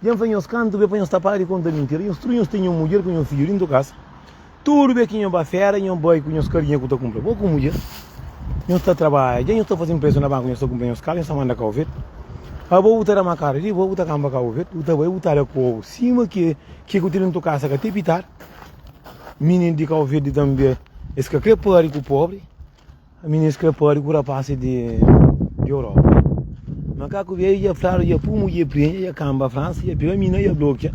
Dja N fla nhos kantu be pa nhos ta para di konta mintira. Nhos tudu nhos ten nho mudjer ku nho fidju dintu kasa. Tudu be ki nho ba fera, nho bai ku nhos karinha ku ta kunpra. Bo ku mudjer nhos ta trabadja, dja nhos ta faze mprestu na banku, nhos ta kunpra nhos kaza, nhos ta manda ka ovetu. Abo bu ta da-m akada di bo, bu ta kanba ka ovetu, bu ta bai, bu ta da kobu sima ke ke ku ten dintu kasa ka te pitar. Mininu di ka ovetu di tambe es ka kre pari ku pobri. Ministra pode ku rapasi di Europa. Makaku veio e ia flado, ia pumo, ia prenha, ia camba França, ia pega mina, ia bloquear.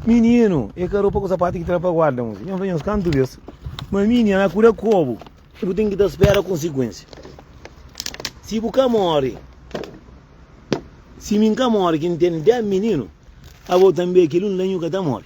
Menino, e ka roupa ku sapato ki tra pa guarda, moço. Ia fazer uns canto vez. Mas mini, ela cura cobo. E bu tem que dar espera a consequência. Se bu ka morre, se mim ka morre, que tem 10 menino, a volta também aquele um lenho que tá morre.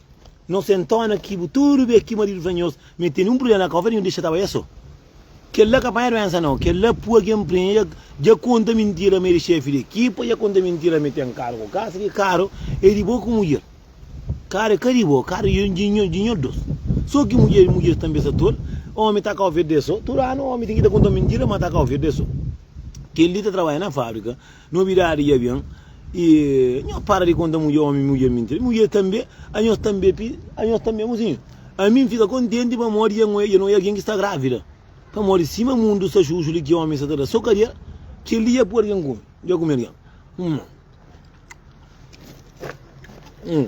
Nos é ntona ki bu tudu bê ki maridu fla nhos ma el tene un prubléma na káusa di nhos dexa ta bai é so kel-la ka panha duénsa nau kel-la pua ki enprenha dja dja konta mintira ma el é xéfi di ekipa dja konta mintira ma el ten karu ku kasa ki karu é di bo ku mudjer karu é ka di bo karu é di nhos di nhos dôs so ki mudjer mudjer tanbe sa tol ómi ta káusa é so tudu anu ómi ten ki ta konta mintira ma ta káusa é so kel-li ta trabadja na fábrika Nobidadi dja ben y nho para di konta mudje omi mudje mintira y mudje tanbe a nhos tanbe pi a nhos tanbe amosinho ami nfika kontenti pamodi dja nho dja nho e algen ki sta gravida pamodi sima mundu sta xuxu li ki omi sta ta da so kadial kel li dja poi algen kumi dja kumi algen hum hum.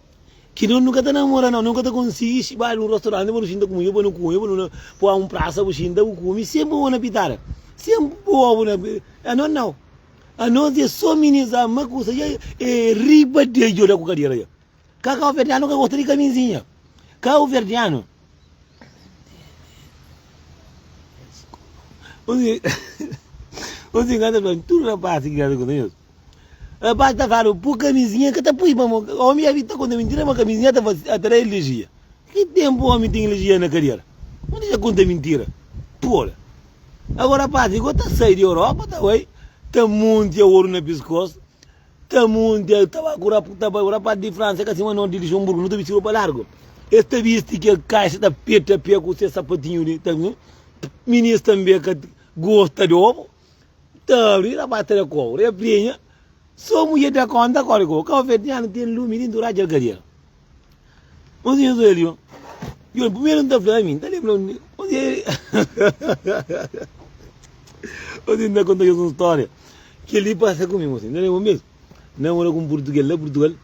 Ki noti nu ka ta namora nau. Nu ka ta konsigi xiba-l nun rostoranti pa nu xinta kume-l, pa nu kume, pa nu na poi un prasa bu xinta bu kume. Senpri bo na pitada. Senpri bo bu na pitada. Anos nau. Anos dja so minizá ma kusa dja e riba dja djoda ku kadera dja. Ka kauverdianu ka gosta di kamizinha. Kauverdianu un di un di kanta fla-m, tudu rapasi ki kanta ku ta. Rapaz ta fala, pui kamizinha, ka ta pui pa mo. Omi ya ta konta mintira ma kamizinha ta atrai alergia. Ki tempu omi ten alergia na kadera? Mo disa konta mintira. Tola. Agora rapaz li go ta sai di Europa ta bai ta muntia oru na piskosu, ta muntia tabaku na ta bai. Rapaz di Fransa ka sima nos di Luxemburgo, no ta bisti ropa largu. Es ta bisti ke kaixa ta peta pia ku se sapatinho li ta. Minis tambe ka gosta di obu. Taru, i la ba tra kau, repreenha. Sô mudjer da kónta kóre kau, kau fé tinha nu ten lumi dintu radja alkadera. Un sinhor sô el yo. Yo, primeru nu ta fla ami, ta lenbra un. Un dia nu ta konta Jezu un stória. Kel li pasa ku mi, un dia, ta lenbra un bes, na mora ku un purtuges la Purtugal.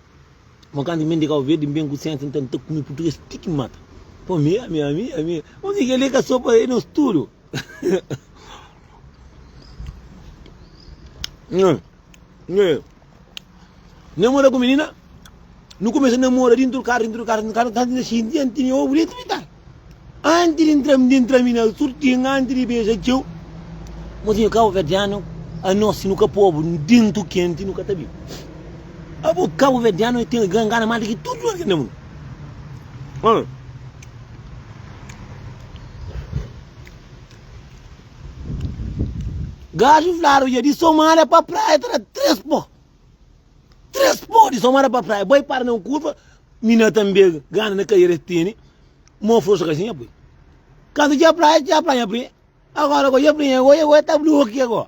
Mo kantu mi ben di Kau Verdi, mi ben ku sensa, nta mi ta kume purtuges ti ki mata. Pa mi, ami, ami, ami. Un dia kel li ka sô pa el, é nos tudu. Namora ku menina, nu kumesa namora dintu di karu, dintu di karu, dintu di karu, kantu na xinti anti mi obu li trita. Anti di ntra, di ntra mi na surtin, anti di beja txeu. Mozinho kabuverdianu, anos si nu ka pobu dintu kenti, nu ka ta bibu. Abo kabuverdianu e ten gangana mal di ki tudu otu ki na mundu. Gajo fladu dja di Somada pa Praia ta da tres po. Tres po di Somada pa Praia. Bai para na un kurva, mina ta mbega, gana na karera es tene, mo forsa ka siña pui. Kantu dja Praia, dja Praia nha pri. Agora go dja pri nha go, nha go ta blokia go.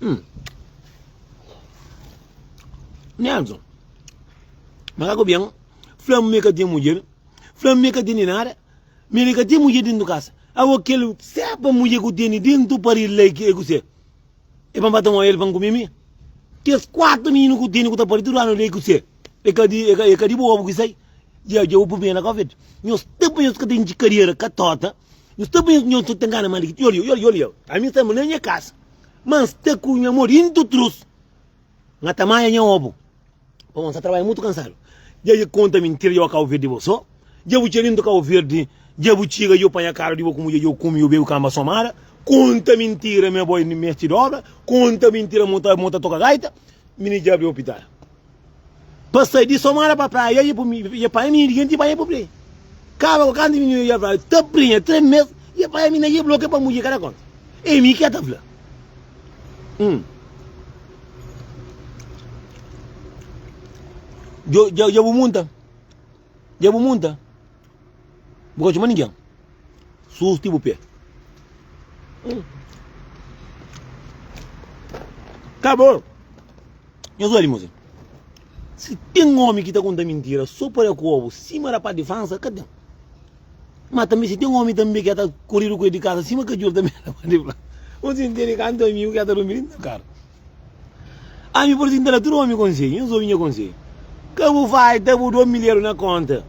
Hum. Nelson, mas ako bem, flam me ka tem mulher, flam me ka tem nada, me li ka tem mulher dentro de casa. Awo kel seba mulher ku tem dentro do pari lei que é que você. É para matar um ele para comer me. Tes quatro meninos ku tem ku tá pari tudo ano lei que você. É que é que é que de boa porque sai. Dja, dja obi ben agora ved. Nhos ta pa nhos ka ten dji kariera ka tota. Nhos ta pa nhos nhos ta ngana mal ki. Yoli, yoli, yoli. A mi sta ma na nha kas. Ma N sta ku nha modi in tu trus. Nga ta maia nha obu. Pamo N sta trabalha mutu kansadu. Dja dja konta mintira dja bo kau verdi bo so. Dja bu txarintu kau verdi. Dja bu txiga dja bu panha karu di bo ku mudja dja bu kumi dja bu bebi kamba somada. Konta mintira mi abo i mesti dobra. Konta mintira mo ta mo ta toka gaita. Mi ni dja abri opital. Pa sai di somada pa praia ia pu mi ia panha minha diente ia panha pu prie kaba ku kantu minha ia fla ta prenha tre mes ia panha minha ia bloke pa mudje kada konta e mi kia ta fla um djo dja dja bu munta Dja bu munta, bu ka txoma ningen, sus ti bu pé. Ka bo, nhos oja di mos. Si ten omi ki ta konta mintira so pa da kobu sima da pati fansa, ka ten. Ma tanbe si ten omi tanbe ki ya ta koridu ku el di kasa sima kajor tanbe da pati fansa. Nhos intindi kantu amigu ki ya ta durmi dintu di karu. Ami bu ta tinta da tudu omi konselhu, nhos obi nha konselhu. Ka bu faita bu domi leru na konta,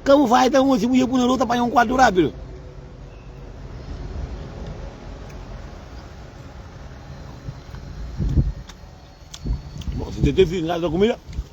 ka bu faita amor si bu ia bu na rua ta panha un kuartu rapidu. Bon, si tete filhu na casa da kumida.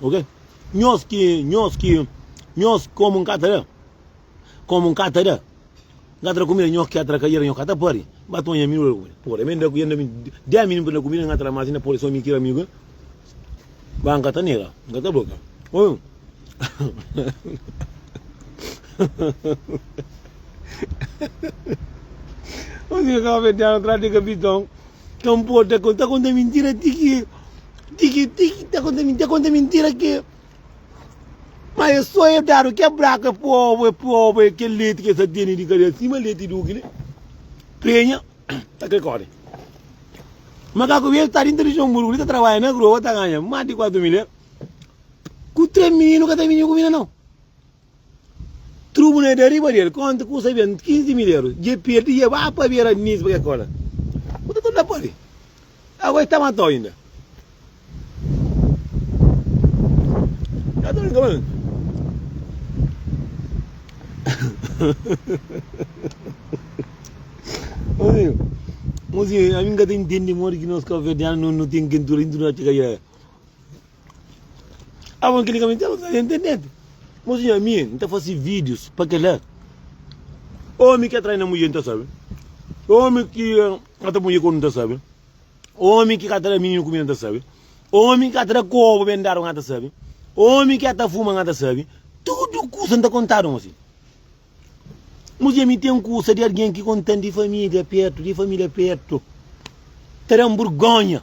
Ok nhos ki nhos ki nhos ki komu nka ta da komu nka ta da nka ta da kumida nhos ki atra kaiera nhos ka ta pari ba tonha mi ora kumida pura mi nda kumida dea mi nda kumida nka ta da mas nda pode so mi kira mi ke ba nka ta nega nka ta blokia oh nhos ki ka ofertianu trati kapitau. Ka nporta ke, ta konta mintira ti ki, ti ki, ti ki, ta konta mintira, ta konta mintira ke, ma e so e dadu ke braku, e pobu, e pobu, e kel leti ke sa tene di kadera, sima leti du kile, penha, ta kre kore. Makaku bês ta dinta di Joanburgu li ta tarbadja na groa, ta ganha mas di kuatu mil eur, ku tres mininu ka ta mini ku mina nau. Trubu na da riba del, konta ku sa ben 15 mil euro, dje perdi dje ba pa bera Nice pa ke kola. Ku ta torna pali. Agora e ta matau inda. Tá doido, cabrão? Mozinho, mozinho, a mim nunca tem entendi moro que nós cabo-verdianos não, não tem quem tudo, tudo na tchicaiaia. Abo n klika menti, abo n faze internet. Mozinho, ami n ta fase vídios pa kela. Omi ki atrai na mudjer n ta sabe. Omi ki ata pui mudjer kodu n ta sabe. Omi ki ka ta da mininu kumida n ta sabe. Omi ki ka ta da kobu ben dadu n ta sabe. Omi ki ata fuma n ta sabe. Tudu kusa n ta kontadu mozinho. Mozinho, ami ten kusa di algen ki kontan di família pertu, di família pertu. Ta dan burgonha.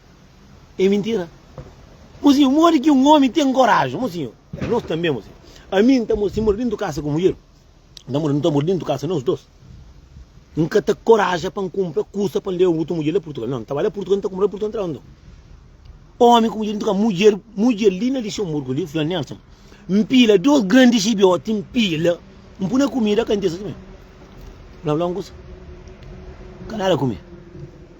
É mintira. Mozinho, modi ki un omi ten koraji, mozinho? É nos tanbe, mozinho. Ami nta mora, si mora dintu kasa ku mudjer, nta mora, nta mora dintu kasa nos dos. Nka ta koraja pa nkumpra kusa pa nleva otu mudjer la Purtugal. Non, nta ba la Purtugal nta kumpra la Purtugal nta leba nton. Omi ku mudjer dintu kasa, mudjer, mudjer li na Lixemburgu li fla Nelson, npila dos grandi xibioti, npila, npu na kumida kantesa simé. Nabla un kusa, ka nada kume.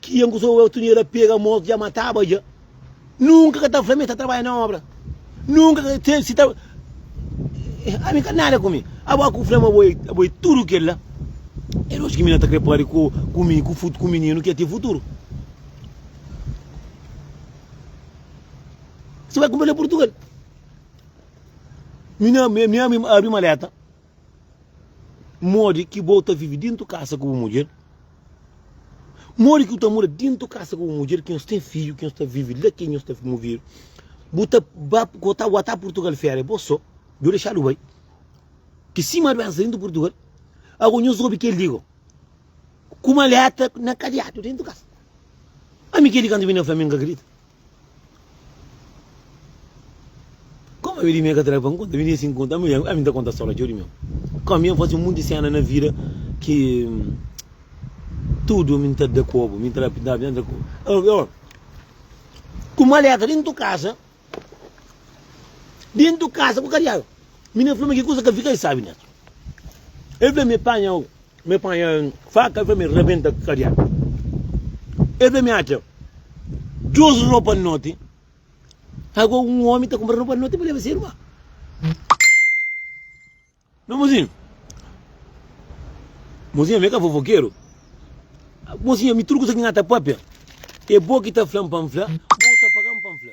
Ki un ku so otu nha da pega mos dja mataba dja nunka ka ta fla mi ta trabadja na obra nunka ka se si ta ami ka nada ku mi abo aku fla ma abo abo e tudu kel la e lojika ki mi na ta kre pari ku ku mi ku ku mininu ki e ten futuru si bai kunpra na purtugal mi na mi abri maleta. Modi ki bo ta vive dentu kasa ku bu mudjer? Modi ki bu ta mora dentu kasa ku bu mudjer ki nhos ten fidju, ki nhos ta vive la, ki nhos ta muvidu? Bu ta ba ku ta ba ta Purtugal feria bo so? Jo dexadu bai. Ki sima duensa dentu Purtugal. Ago nhos obi kel di go ku maleta na kadiatu dentu kasa. Ami kel di kantu mi na fla mi n ka kridita. Koma mi di mi ka tra pa nkonta, mi di si nkonta, ami ami ta konta stória txeu di miu. Koma mi ami fase monti séna na vida ki tudu ami ta da kobu, mi ta da pintaba, mi ta da kobu. Ôô, ku maleta dentu kasa, dentu kasa ku kadiadu. Mi na fla ma ki kusa ka fika, el sabe, Neto. El fla mi, panha-u, Mi panha faka i fla mi rabenta kadiatu. El fla mi, Atxa djus ropa noti. Ago un omi ta kunpra ropa noti pa leba se irma. Meu mozinhu, mozinha mi e ka fofokeru. Mozinha mi tudu kusa ki na ta papia e bo ki ta fla-m pa N fla, bo ta paga-m pa N fla.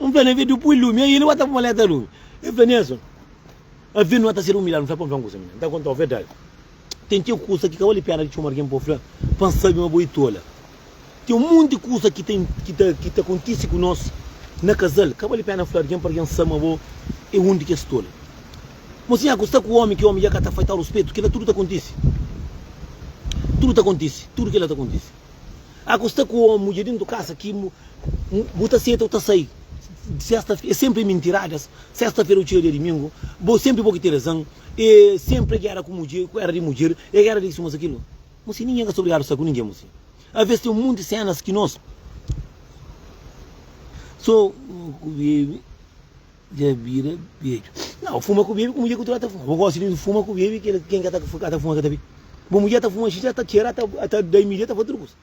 N fla, N'envês di bu pui lumi aí, nu ba ta pui maleta lumi. El fla, Nelson, avion nu ba ta ser umilhadu. N fla, Pamodi un kusa, minha? N ta kontau verdadi. Ten txeu kusa ki ka bali péna di txoma algen pa bu fla pa N sabe ma bo i tola. Ten un monti kusa ki ta ki ta ki ta kontise ku nos na kazal, ka bali péna fla algen pa algen sabe ma bo é un di kes tola. Má si nha ku sta ku ómi, ki ómi dja ka ta faitau ruspetu, kila tudu ta kontise. Tudu ta kontise, tudu kila ta kontise. Ah ku sta ku omu dja dentu kasa ki bu ta seta u ta sai sesta e senpri e mintiradas sesta fera u tira dia dimingu bo senpri bo ki ten razan e senpri e gera ku mudjer ku era di mudjer e gera di suma sa kilu mu si ninguem ka sta obrigadu sta ku ninguem mu si aves ten un munti senas ki nos so. Dja bira bedju. Nau, fuma ku bebe ku mudjer ku tra ta fuma. Bo gosi di fuma ku bebe kila ken ka ta fuma ka ta bebe. Bo mudjer ta fuma xinxa ta txera ta da invidia ta fasi tudu kusa.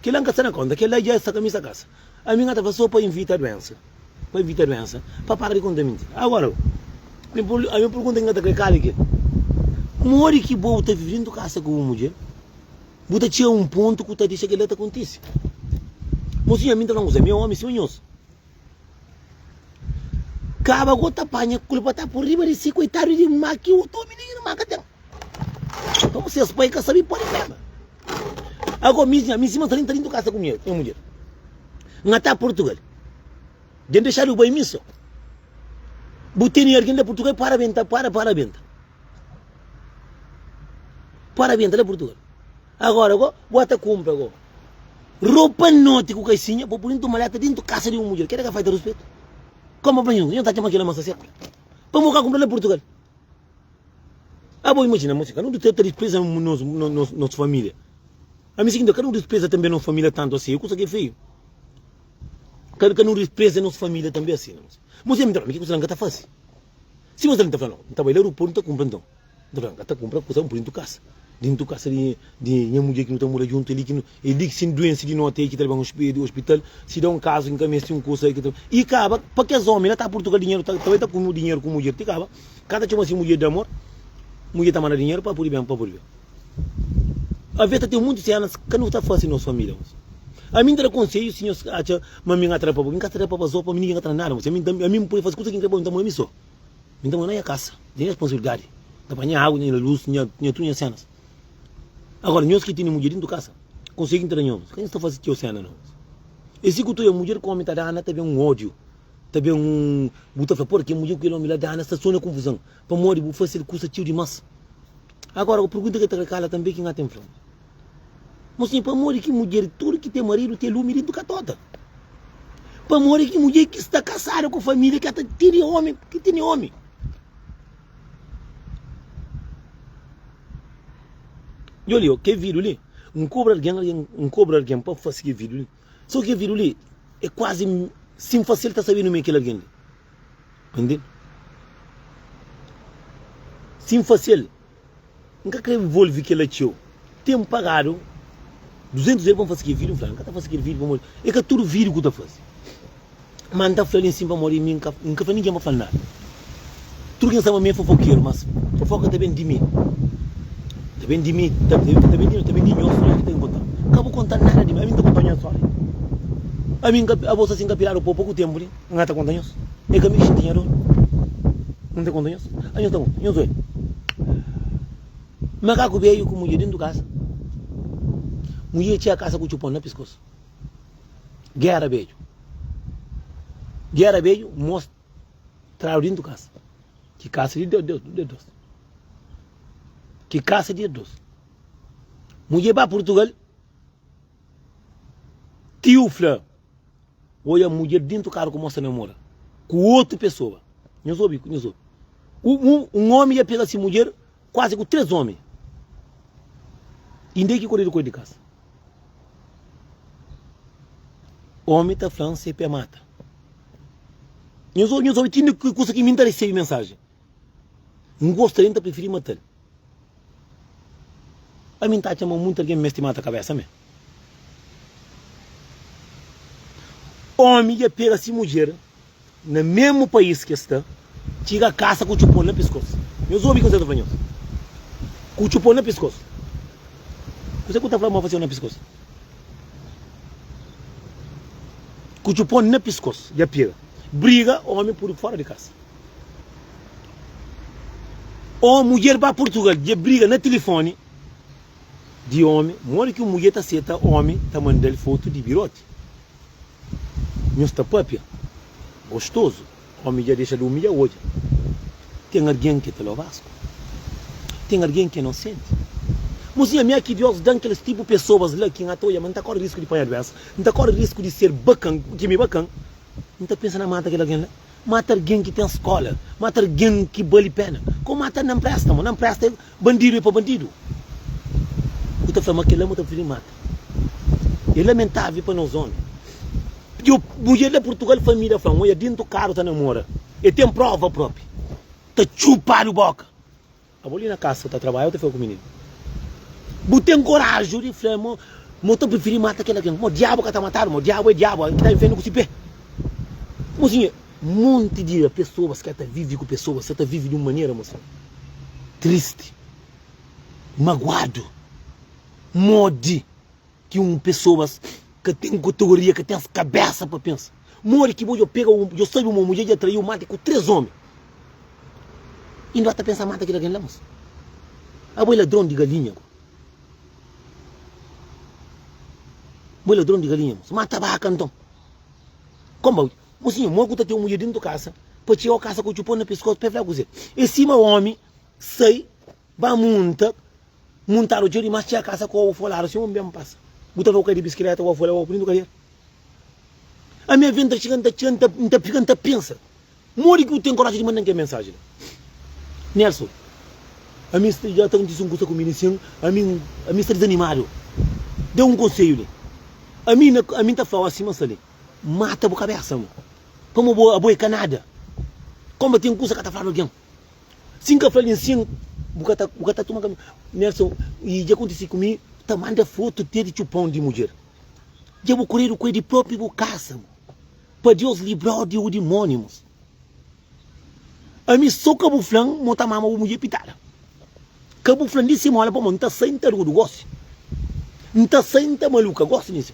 Kila nka sta na konta kila dja sta kaminhu sa kasa. Ami nka ta fasi so pa invita duensa pa invita duensa pa para di konta minti. Agora ami ami pergunta ki nka ta kre kal ki modi ki bo ta vivi dentu kasa ku bu mudjer bu ta txega un pontu ku ta dexa kila ta kontisi. Mo sinhor ami nta fla un kusa ami é omi sima nhos. Kaba go ta panha kulpa ta pur riba di si koitadu di ma ki otu omi nen irma ka ten. Nton ses pai ka sabe pode peba. Ago mi nha mi sima ta linta lintu kasa ku nha nha mudjer. Nga ta Portugal. Den dexadu bai misa. Bu teni argen da Portugal para benta para para benta. Para benta la Portugal. Agora go, bo ta cumpra go ropa noti ku kaixinha pa puri ntu maleta dintu kasa di un mudjer. Keda ka faita ruspetu? Kompa pa nhu, nhu ta txoma kila masa sepa. Pamo ka kumpra na Purtugal. Abo imajina mos, ka nu ta ta dispreza nos, nos, nos familia. Ami sikinta, ka nu dispreza tambi nos familia tantu asi, e kusa ki e feiu. Ka, ka nu dispreza nos familia tambi asi, na mos. Mos, ami ta fala, mi ki kusa la nka ta fasi. Si mos ta fala, no, nta bai la Rupu, nta kumpra nton. Bu ta ta kunpra kusa bu dintu kasa, dintu kasa di di nha mudjer ki nu ta mora juntu, é li ki nu, é li ki si N duense di noti é ki ta leba-m na ospital, si da un kazu ki N ka meste un kusa é ki ta. I kaba, pa kes ómi la ta Purtugal dinheru ta ta bai ta kume-u dinheru ku mudjer ti kaba, ka ta txoma si mudjer di amor, mudjer ta manda dinheru pa pudi ben pa pudi ben. Aves ta ten munti sénas ka nu ta fase nos família nos. Ami N ta da konsedju si nhos atxa ma mi N atrapaba, mi ka atrapaba zó pa mi ningi ka ta da nada, ami N ta ami N pudi fase kusa ki N krê pa mi ta moi mi só. Mi ta mora na nha kasa, di nha responsabilidadi, N ta panha agu, nha liga lus, nha nha tudu nha senas. Agora, nhos ki tene mudjer dintu kasa, konsei ki N ta da nhos, ka nhos ta fase txeu sena no. E si ku tuia mudjer ku omi ta dana, ta ben un odiu, ta ben un, bu ta fla, Por ki mudjer ku kel omi la dana sta so na kunfuzan? Pamodi bu fasel kusa txeu dimas. Agora, ku pergunta ki el ta kla, Kala tanbe ki N ka ten fla-u. Mos ten pamodi ki mudjer tudu ki ten maridu ten lumi dintu katota. Pamodi ki mudjer ki sta kasadu ku família ki ata tene omi, ki tene omi. Jo li, ke vidu li, n kobra algen, algen, n kobra algen pa fase ke vidu li. So ke vidu li e kuazi si n fase el ta sabe nome kel algen li. Entende? Si n fase el. N ka krê volve kel-la txeu. Ten N pagadu duzentus eur pa N faze kel vídiu? N fla, N ka ta faze kel vídiu pamodi é ka tudu vídiu ki bu ta faze. Má N ta fla-l insin pamodi mi N ka N ka fla ningen pa fla-l nada. Tudu ki N staba mi é fofokeru, mas fofoka ta ben di mi, ta ben di mi, ta ta ta ben di mi, ta ben di nhos stória ki ta inkonta-m. Ka bu konta-l nada di mi, ami N ta konta-u nha stória? Ami N ka, abo sasi N ka piladu pô poku ténpu li? N ka ta konta nhos. É ka mi ki xinti nha dor. N ka ta konta nhos. Anhos sta un, nhos doi. Makaku beiu ku mudjer dentu kasa. Mudjer txia kasa ku txupon na piskosu. Gera beiu. Gera beiu mos tradu dentu kasa. Ki kasa di dos. Ki kasa di dos. Mudjer ba Purtugal, tiu fla. Oia mudjer dentru karu ku mos ta namora ku otu pesoa. Nhos obi ku nhos obi. Un omi dja pega si mudjer kuazi ku tres omi. Inda e ki koridu ku el di kasa. Omi ta flan se pe mata. Nhos obi nhos obi ti inda kusa ki mi n ta resebi mensaji. N gosta del, n ta prifiri matal. Pa mi n'ta txama muntu algen mesti mata kabesa me. Omi dja pega si mudjer na mesmu pais kes ta, txiga kasa ku txupon na piskos. Nhos obi kuzé ta fla nhos? Ku txupon na piskos? Kuzé ku ta fla ma fasiu na piskos? Ku txupon na piskos dja pega briga omi pudi fora di kasa. Ó mudjer ba purtugal dja briga na tilifoni di omi modi ki un mudjer ta seta omi ta mandal fotu di biroti nhos ta papia gostozu omi dja dexa di umilha odja ten argen ke ta lovasku ten argen ke no senti mozinha ami aki dios dan keles tipu pesoas la ki nha ta odja ma nta kori risku di panha duensa nta kori risku di ser bakan ki mi bakan nta pensa na mata kel argen la Mata argen ki ten skola. Mata argen ki bali pena. Ka o mata na nprestamo. Na npresta el. Bandidu e pa bandidu. Bu ta fla ma kel la mu ta prefiri mata. E lamentável pa nos omi. Yo mudjer na Portugal fla mi da fla-m, oia dintu karu ta namora. E ten prova propi. Ta txupadu boka. Abo li na kasa ta trabalha ou ta fika ku mininu? Bu ten koraju di fla ma ma ta prifiri mata kel algen? Ma diabu ka ta matadu? Ma diabu e diabu algen ki ta infiernu ku si pe? Mo sinha, monti di pesobas ka ta vivi ku pesobas, sa ta vivi di un manera mo sinha, tristi, maguadu, modi. Ki un pesoas ka ten kotogoria, ka ten kabesa pa pensa. Modi ki bo djo pega un, djo sabe uma mudje dja traiu mate ku tres omi y nba ta pensa mata kel algen la mas? Abo é ladron di galinha go. Bo é ladron di galinha mas mata baka nton. Komba mosinha mo ku ta ten mudje dintu kasa pa txeu kasa ku txupon na piskos pa e fla kuze e sima omi sai. Ba munta, muntadu txeu dimás txia kasa ku obu foladu si un ben pasa bu ta fla ku ka di biskileta ku obu foladu obu lindu kalier ami a venta txiga nta txia nta nta fika nta pensa modi ki bu ten koraji di mandan kel mensaji la Nelson ami sta dja ta kontisi un kusa ku mi li sin ami ami sta dizanimadu da un konseju li ami na ami nta flau asi ma sta li mata bu kabesa mo pamo abo abo e ka nada koma ten kusa ka ta fla di algen. Si N ka fla-l insin, bu ka ta, bu ka ta toma kami. Nelson, I dja kontise ku mi, ta manda fotu te di txupon di mudjer. Dja bu kuredu ku el di propi bu kasa bu. Pa Deus libra-u di u dimonimus. Ami so ka bu fla-m ma u ta mama bu mudjer pitada. Ka bu fla-m di si mola pamó N ta sai N ta rudu gosi. N ta sai N ta maluka gosi di si.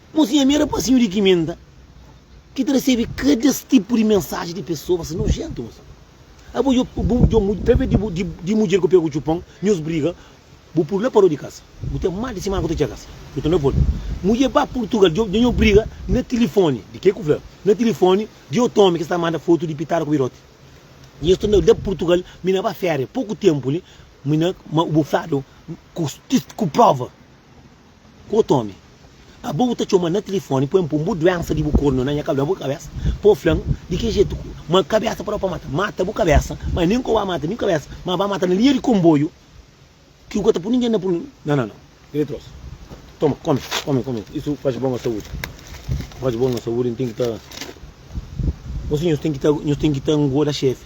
Bo si nha mera pasinhu di kiminda ki ta resebe kada es tipu di mensaji di pesoas nojentu bo sabe abo yo bu yo mu ta ve di di mudjer ku pegu txupon nhos briga bu pul la pa ro di kasa bu ten mal di simana ku ta txega sa yo ta na volta mudjer ba purtugal yo nho briga na tilifoni di ke ku fla na tilifoni di otu omi ki sta manda fotu di pitada ku birote nhos ta na la purtugal mi na ba feria poku tempu li mi na ma bu fladu ku ku prova. Ku otu ómi. Aba bu ta txoma-m na tilifóni pa N pô-m bu duénsa di bu kornu na nha kabésa, na bu kabésa, pa bu fla-m di ki jetu ku ma kabésa pa da pa mata. Mata bu kabésa, má nen ku aba mata mi kabésa, má aba mata-m na linha di konboiu ki bu ka ta pô ningen na pô-m. Nan, nan, nan. Kel li trosu. Toma, kome, kome, kome. Isu faze bon na saúdi. Faze bon na saúdi, N ten ki ta. Gosi nhos ten ki ta, nhos ten ki ta ngoda xefi.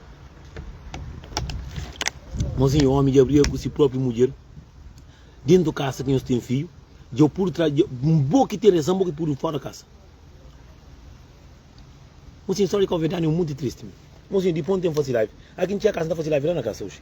Mas un omi dja briga ku si propi mudjer dentu kasa ki nhos ten fidju, dja u pudu trazi bo ki ten rezan bo ki pudu fora kasa. Mosinho, story kau verdade é um monte triste. Mosinho, di pon tem faci live. Aki n'txia kasa n'ta faci live la na kasa oxi.